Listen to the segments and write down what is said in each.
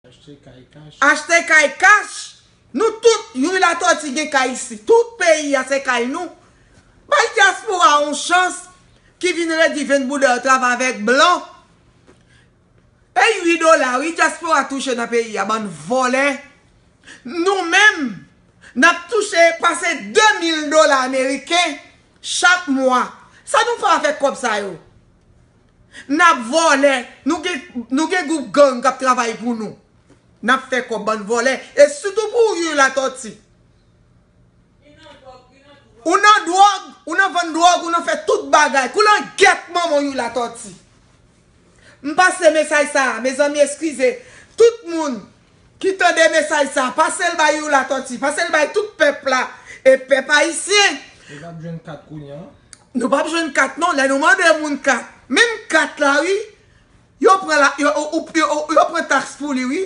Achte kay kach. Achte kay kach. Nou tout youri latoti gen kay isi tout peyi ya se kay nou bay diaspora yon chans ki vin redi vin bouda yo travay avek blan e ui dola ui diaspora touche nan peyi ya bann volè nou menm nap touche pase 2000 dola ameriken chak mwa sa nou fè avek kob sa yo. Nap vòlè Nou gen group gang kap travay pou nou nap fè kòb bann vòlè e sitou pou u latòti ou nan dwòg ou nan vann dwòg ou nan fè tout bagay kou nan gèt manman u latòti m pase mesaj sa mezanmi eskize tout moun Ki tande mesaj sa pasel bay you latoti pasel bay tout pèp la e pèp ayisyen. Nou pap jwenn kat kounya. Nou pap jwenn kat non lè nou mande moun kat menm kat la wi yo pran la yo pran tax pou li wi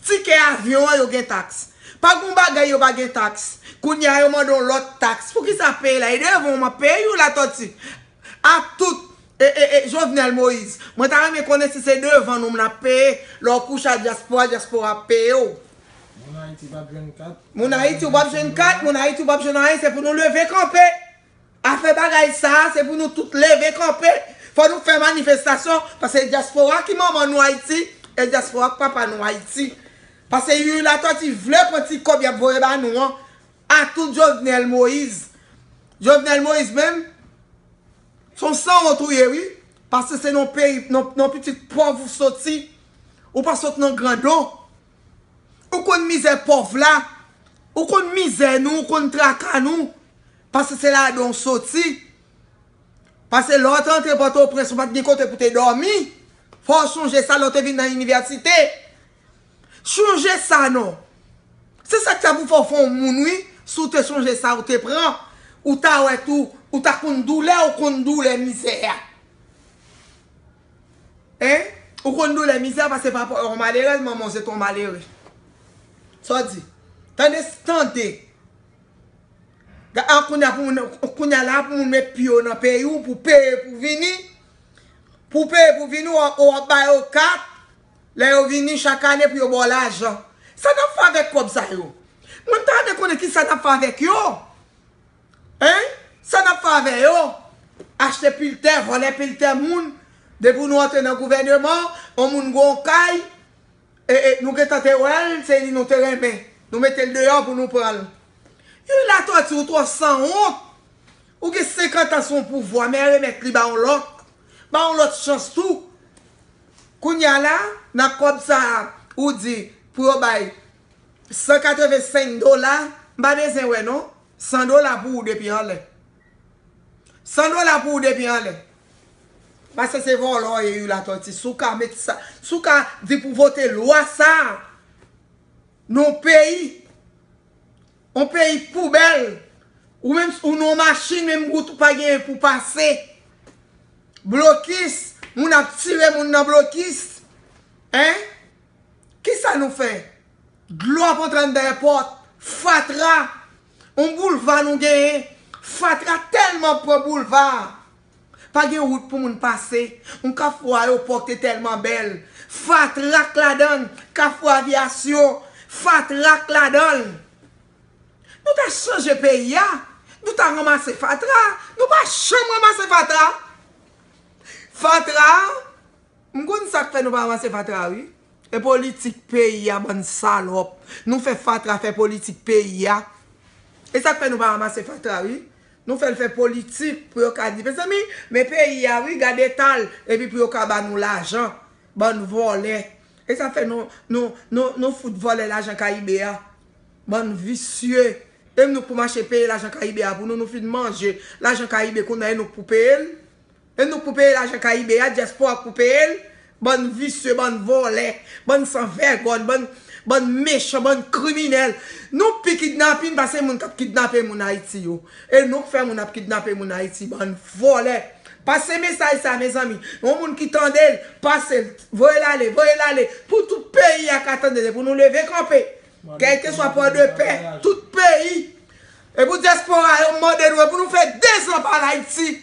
tikè avyon an yo gen tax pa gon bagay yo pa gen tax kounya yo mande yon lòt tax poukisa peyi la e devan w map peye you latoti Ak tout E Jovenel Moïse. Mwen ta renmen konnen si se devan nou mna peye lè w kouche a dyaspora dyaspora ap peye w. Moun ayiti pap jwenn kat. Moun ayiti ou pap jwenn kat moun ayiti ou pap jwenn anyen se pou nou leve kanpe afè bagay sa a se pou nou tout leve kanpe fò nou fè manifestasyon pase dyaspora ki manman nou ayiti e dyaspora ki papa nou ayiti pase youri latòti vle pran ti kòb yap voye ba nou an Ah tout jovenel moise. Jovenel moise menm son sanwont ou ye wi paske se nan peyi nan pitit pòv ou soti ou pa sot nan grandon ou konn mizè pòv la ou konn mizè nou ou konn traka nou paske se ladan ou soti paske lè ou te antre pòtoprens ou pat gen kote pou te dòmi fò ou sonje sa lè ou te vin nan inivèsite. Chonje sa non. Se sak fè pou fè w fè yon moun wi si w te chonje sa ou te pran ou ta wè tou ou ta konn doulè ou konn doulè mizè a hein ou konn doulè mizè a paske papa w yon malerèz manman w se t yon malere sa w di tande tande a kounya pou moun kounya la pou moun met pye w nan peyi w pou peye pou vini pou peye pou vini ou ap bay yo kat Lè yo vini chak ane pou yo ba w lajan. Sa n ap fè avèk kòb sa yo? Mwen ta renmen konnen kisa n ap fè avèk yo? Hein? Sa n ap fè avè yo? Achte pil tè, vòlè pil tè moun. Depi w nou antre nan gouvèneman, yon moun gen yon kay, e, e, nou gentan te wè l, se li nou te renmen. Nou mete l deyò pou nou pran l. Youri Latòti, ou twò san wont. Ou gen 50 an sou yon pouvwa, men remèt li ba yon lòt. Ba yon lòt chans tou. Kounya la, nan kòb sa a ou di pou yo bay 185 dola, m pa bezwen wè non, 100 dola pou ou depi anlè. 100 dola pou ou depi anlè. Pase se vòlò w ye ui Latòti, si w ka met sa, si w ka di pou vote lwa sa a nan yon peyi. On peyi poubèl, ou menm si ou nan yon machin menm wout ou pa genyen pou pase. Blokis, moun ap tire moun nan blokis. Hein? Kisa nou fè? Dlo ap antre anndan yon pòt, fatra, on boulva nou genyen, fatra tèlman pran boulva a. Pa gen wout pou moun pase. Yon kafou ayopò k te tèlman bèl. Fatra k ladan l. Kafou avyasyon. Fatra k ladan l. Nou ta chanje peyi a. Nou ta ranmase fatra a. Nou pa janm ranmase fatra a. Fatra a. M konn sa k fè nou pa ranmase fatra a wi. E politik peyi a bann salòp. Nou fè fatra fè politik peyi a. E sa k fè nou pa ranmase fatra a wi. Nou fèl fè politik pou yo ka di mezanmi men peyi a wi gad etal epi pou yo ka ba nou lajan bann vòlè esa fè nou nou nou nou fout vòlè lajan kayibe a bann visye e nou k pou mache peye lajan kayibe a pou nou nou fin manje lajan kayibe kounya e nou k pou peyel. E nou k pou peye lajan kayibe a diaspora k pou peye l bann visye bann vòlè bann san vègòn bann bann mechan bann kriminèl nou pi kidnapin pase moun kap kidnape moun ayiti yo e nou k fè moun ap kidnape moun ayiti bann vòlè pase mesaj sa mezanmi yon moun ki tandel pasel voyel ale voyel ale pou tout peyi a ka tandel e pou nou leve kanpe Kèlkeswa pòdepè, tout peyi. E pou dyaspora yo, m mande nou, e pou nou fè dezan pa al Ayiti?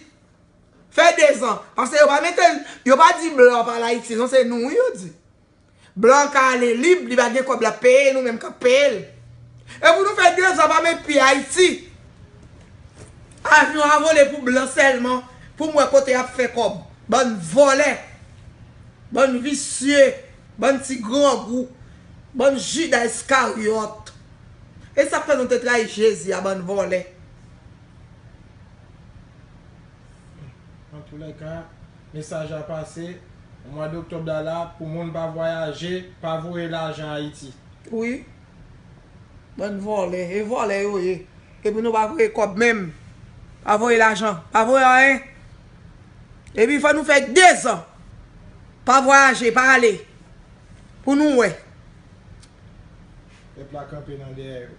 Fè dezan. Pase yo pa mete, yo pa di blan pa al Ayiti non, se nou wi yo di. Blan an ka ale lib, li va gen kòb l ap peye, nou menm k ap peye l. E pou nou fè dezan pa met pye Ayiti? Avyon a vole pou blan sèlman, pou m wè kote y ap fè kòb. Bann vòlè. Bann visye. Bann ti grangou, bann juda iskariot. Esak fè nou te trayi jezi a bann vòlè. Antoulèka, mesaj la pase, mwa doktòb la la pou moun pa vwayaje, pa voye lajan Ayiti. Wi. Bann vòlè. E vòlè yo ye. Epi nou pa voye kòb menm. Pa voye lajan. Pa voye anyen. Epi fò nou fè 2 zan. Pa vwayaje, pa ale. Pou nou wè. Pèp la kanpe nan dèyè yo.